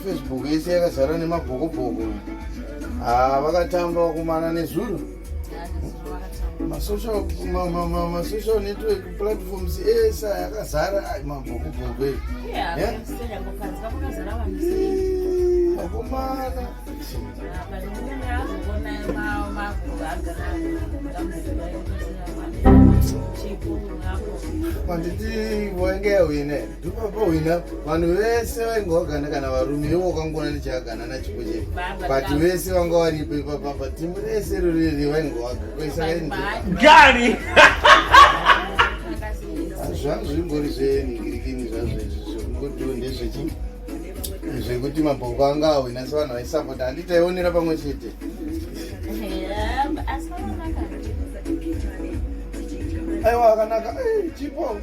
Facebook yese yakazara nemabhokobhoko ah, vakatamba wakumana nezuro masocial network platforms ese yakazara mabhokobhoko vakomana manditi wainge yawine ndopapahwina vanhu vese vainge vagana kana varume ivo vakangoona ndichagana nachipo chete but vese vanga varipo ipapapa timu rese roriri vainge vagari zvangu zvimbori zvenhingirikini zvazvo izvi zvekungotiwo ndezvechii zvekuti mabhoko anga ahwina sevanhu vaisapota handi taionera pamwe chete aiwa akanaka eh, chipo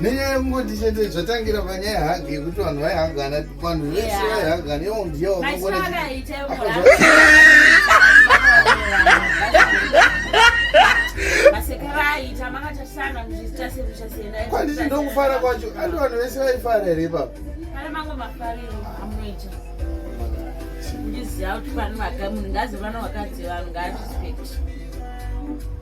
nenyaya yekungoti chete zvatangira panyaya hagi yekuti vanhu vaihagana vanhu vese vaihagana iwo ndiyo kwanditi ndokufara kwacho andi vanhu vese vaifara here ipapo ndiziva kuti vanhu vakamunhu ngazi vana vakadzi vanhu ngazvispekti